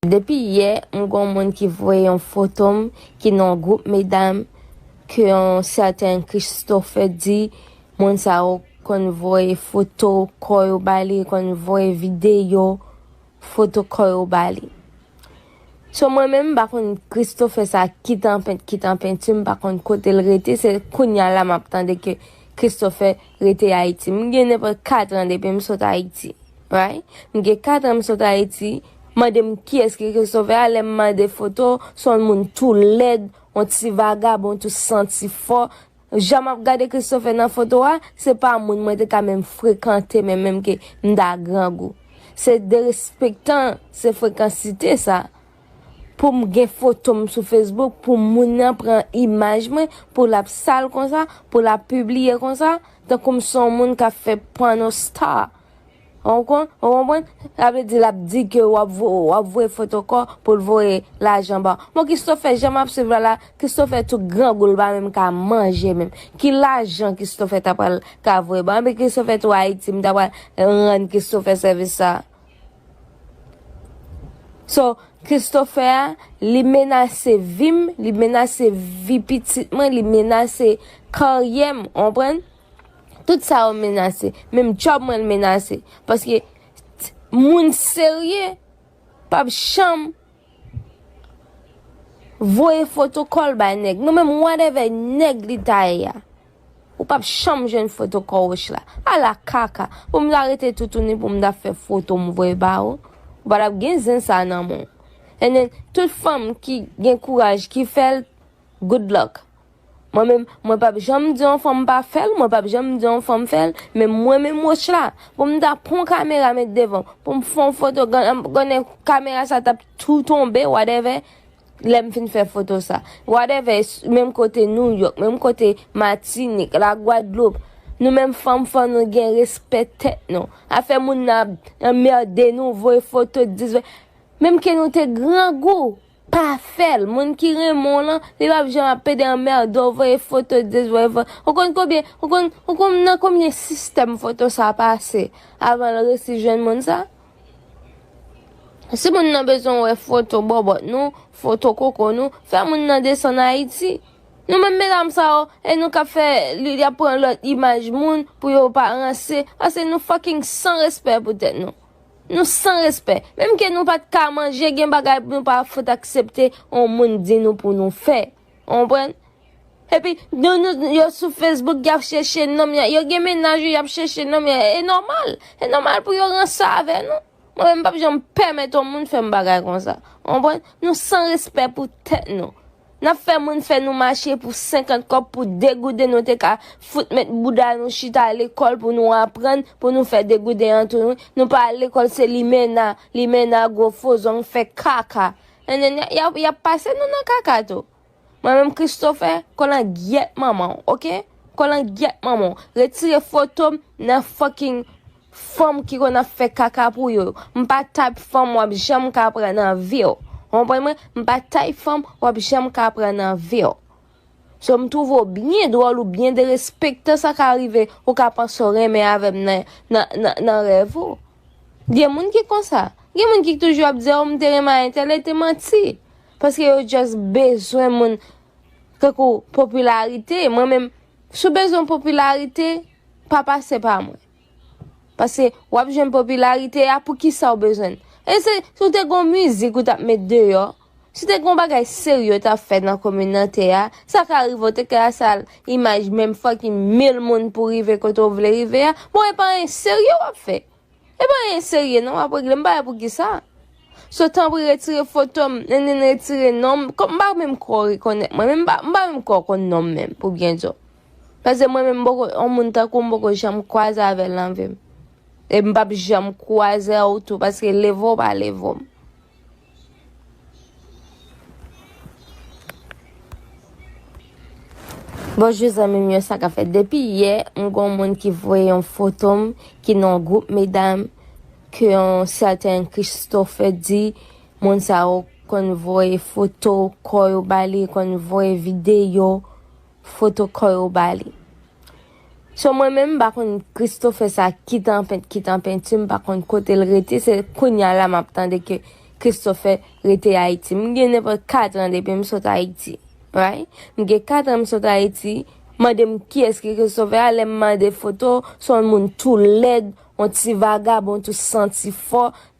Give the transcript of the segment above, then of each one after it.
Depi yè m gon moun ki voye yon foto m ki nan yon group medam ke yon sèten Christophe di moun sa yo konn voye foto kò yo ba li konn voye videyo foto kò yo ba li. So mwen menm m pa konn Christophe sa ki tanpent ki tanpenti m pa konn kote l rete se kounya la map tande ke Christophe rete ayiti m gen nenpòt 4 an depi m sot ayiti right m gen 4 an m sot ayiti. Mandem kiyès ki Kris sovè a lèm mande foto son moun tou lèd on ti vagabon tou santi fò jan map gade Kris sovè nan foto a se pa moun mwen te ka menm frekante men menm ke mta grangou se derespektan se frekansite sa poum gen fotom sou Facebook pou moun nan pran imaj mwen pou lap sal konsa pou lap pibliye konsa tankoum son moun kap fè pornostar Ou konprann? Sa vle di lap di ke wap voye foto kò poul voye lajan baw. Bon Christopher jan map swiv la la, Christopher tou grangou li pa menm ka manje menm. Ki lajan Christopher ta pral ka voye baw? Epi Christopher tou Ayiti m ta pral rann Christopher sèvis sa. So Christopher a li menase vim, li menase vi pitit mwen, li menase karyèm, ou konprann? Tout sa yo menase. Menm job mwen l menase. Paske moun serye pap janm voye foto kò l bay nèg. Non menm whatever nèg li ta ye a. Ou pap janm jwenn foto kò wouch la. A la kaka. Pou m ta rete toutouni pou m ta fè foto m voye ba ou. Ou pa tap gen zen sa nan men w. Ennen tout fanm ki gen kouraj ki fè l. Good luck. Mwen menm, mwen pap janm di yon fanm pa fèl, mwen pap janm di yon fanm fèl, men mwen menm Rochla, poum ta pran yon kamera met devanm, poum fè yon foto gonna kamera sa tap tou tonbe whatever, lèm fin fè foto sa. Whatever, menm kote New York, menm kote Matinik, la Guadeloupe, nou menm fanm fò nou gen respè tèt nou. Afè moun nan ap anmerde nou, voye foto 10 20, menm ke nou te grangou, Pa fèl moun ki renmen w lan li pap janm ap pede anmède w voye foto this voye foto that ou konn konbyen ou konn ou konn nan konbyen sistèm foto sa pase avan l resi jwenn moun sa si moun nan bezwen wè foto bòbòt nou foto koko nou fè moun nan desann ayiti nou menm medam sa yo e nou kap fè li yap pran lòt imaj moun pou yo pa ranse ase nou fucking san respè pou tèt nou. Nou san respè. Menm ke nou pat ka manje gen bagay nou pa fout aksepte on moun di nou pou nou fè. Ou konprann? Epi nou nou yo sou Facebook yap chèche nonm ya yo gen mennaj yo yap chèche nonm ya e nòmal. E nòmal pou yo ranse avè nou. Mwen menm m pap janm pèmèt on moun fèm bagay konsa. Ou konprann? Nou san respè pou tèt nou. Nap fè moun fè nou mache pou 50 kòb pou 2 gouden nou te ka fout met bouda nou chita lekòl pou nou aprann pou nou fè 2 gouden an tou nou pa al lekòl se limena limena gwo fo zong fè kaka nanana yap pase nou nan kaka tou mwen menm Christopher kolangyèt manmanw ok kolangyèt manmanw retire fotom nan fucking Fanm ki konn ap fè kaka pou yo yo. M pa type fanm wap janm ka pran nan viw. Ou konprann mwen? M pa type fanm wap janm ka pran nan viw. So m twouve w byen dwòl ou byen derespektan sa ka rive ou ka panse w renmen avè m nan rèv ou. Gen moun ki konsa. Gen moun ki toujou ap di oh m te renmen a entèl e te manti. Paske yo just bezwen moun tankou popilarite. Mwen menm si w bezwen popilarite pa pase pa mwen. Pase wap jwenn popilarite a poukisa ou bezwen l. E se si w te gon mizik ou tap met deyò, si te gon bagay serye w tap fè nan kominante a, sa ka rive w te ka sal imaj menm fucking mil moun pou rive kote w vle rive a, bon e pa anyen serye wap fè. E pa anyen serye non wap regle m pa wè poukisa. So tanpri retire foto m, nennenn retire non m, kòm m pa menm kwè w rekonèt mwen menm, m pa menm kwè w konn non m menm pou byen di w. Pase mwen menm m poko yon moun tankou m poko janm kwaze avèl nan vim. E m pap janm kwaze w tou paske levo w pa levo m. Bonjou zanmim yo sa kap fèt depi yè m gon moun ki voye yon foto m ki nan yon gwoup medam ke yon sèten Christophe di moun sa yo konn voye foto kò yo bali konn voye videyo. Foto kò yo ba li. So mwen menm m pa konn Christopher sa ki tanpent ki tanpentu m pa konn kotel rete se kounya la map tande ke Christopher rete ayiti m gen nenpòt 4 ans depim sot ayiti right m gen 4 ans m sot ayiti mandem kiyès ki Christopher a lèm mande foto son moun tou lèd on ti vagabon tou santi fò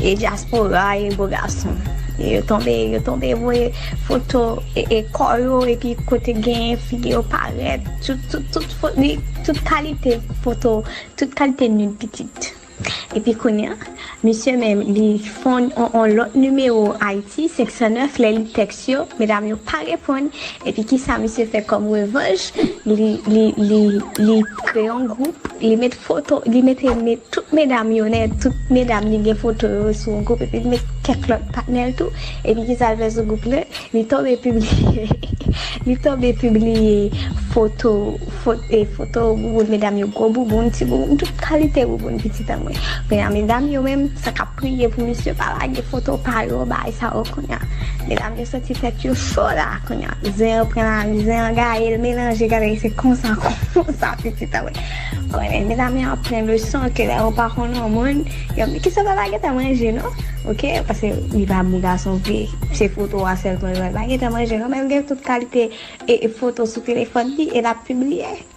E diaspora e bo gason yo tonbe yo tonbe voye foto e kò yo epi kote gen figi yo parèt tout kalite foto tout kalite nud pitit epi kounya misye menm li fon on lòt nimewo ayiti 509 lè li tèks Kèt yo medam yo pa reponn epi kisa misye fè kòm revanj li kreye yon gwoup li met foto li mete tout medam yo nèt tout medam li gen foto yo sou yon gwoup epi li met kèk lòt patnèl tou epi kisa li fè sou gwoup la li tonbe pibliye li tonbe pibliye foto foto bouboun medam yo gwo bouboun ti bouboun tout kalite bouboun pitit anmwey medam yo menm sa kap. Priye pou misye pa lage foto pa yo bay sa yo kounya medam yo santi tèt yo cho la kounya zen an pran lari zen an gaye l melanje gade se konsa konsa pitit an konnen medam yo ap pran leson ke lè yo pa konn yon moun yo di kisa baba gen tan manje non ok paske li pa bon gason vre se foto a sèlman l wè l pa gen tan manje non men l gen tout kalite foto sou telefòn li e l ap pibliye.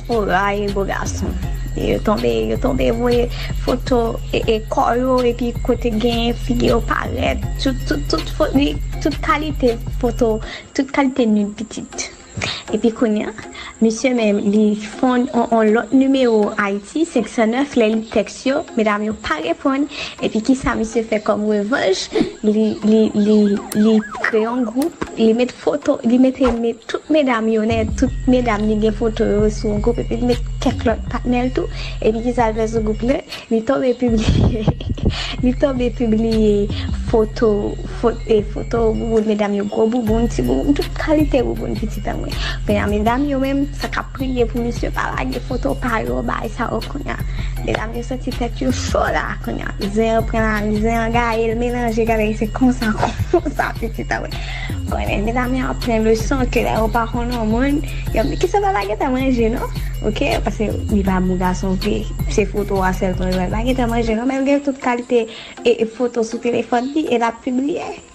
Ou rayi bo gason e yo tonbe yo tonbe voye foto e kò yo epi kote genyen figi yo parèt tout tout tout fo li tout kalite foto tout kalite nud pitit epi kounya misye menm li fon on lòt nimewo ayiti 509 lè li tèks yo medam yo pa reponn epi kisa misye fè kòm revanj li li li li kreye yon gwoup li met foto li mete met tout medam yo nèt tout medam li gen foto yo sou yon gwoup epi li met kèk lòt patnèl tou epi kisa li fè sou gwoup la li tonbe pibliye li tonbe pibliye foto fote foto bouboun medam yo gwo bouboun ti bouboun tout kalite bouboun pitit anmwe medam yo menm sa kap. Priye pou misye pa lage foto pa yo bay sa yo kounya medam yo santi tèt yo cho la kounya zen an pran lari zen an gaye l melanje gade l se konsa konsa pitit an konnen medam yo ap pran leson ke lè yo pa konn yon moun yo ap di kisa baba gen tan manje non ok paske li pa bon gason vre se foto a sèlman yo wè l pa gen tan manje non men l gen tout kalite foto sou telefòn li e l ap pibliye.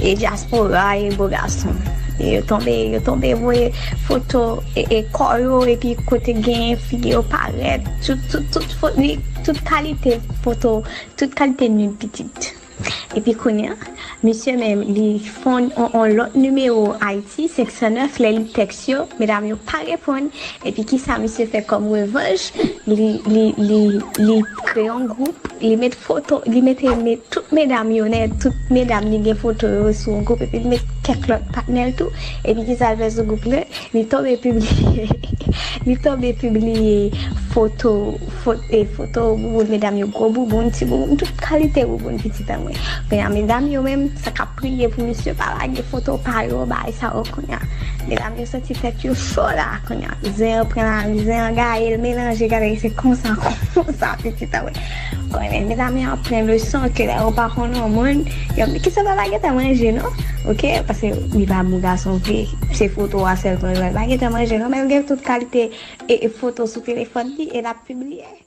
E diaspora e bo gason. Yo tonbe yo tonbe voye foto e kò yo epi kote genyen figi yo parèt tout kalite foto tout kalite nud pitit epi kounya misye menm li fon on lòt nimewo ayiti 509 lè li tèks. yo medam yo pa reponn epi kisa misye fè kòm revanj li li li li kreye yon gwoup li met foto li mete met tout medam yo nè tout medam li gen foto yo sou yon gwoup epi li met kèk lòt patnèl tou epi kisa l fè sou gwoup lan li tonbe pibliye li tonbe pibliye foto fot e foto bouboun medam yo gwo bouboun ti bouboun tout kalite bouboun pitit anmwe kounye a medam yo menm sa kap. Priye pou misye pa lage foto pa yo bay sa yo kounya medam yo santi tèt yo cho la kounya zen an pran lari zen an gaye l melanje gade l se konsa konsa pitit an konnen medam yo ap pran leson ke lè yo pa konn yon moun yo di kisa baba gen tan manje non ok paske li pa bon gason vre se foto a sèlman yo wè pa gen tan manje non men l gen tout kalite foto sou telefòn li e l ap pibliye.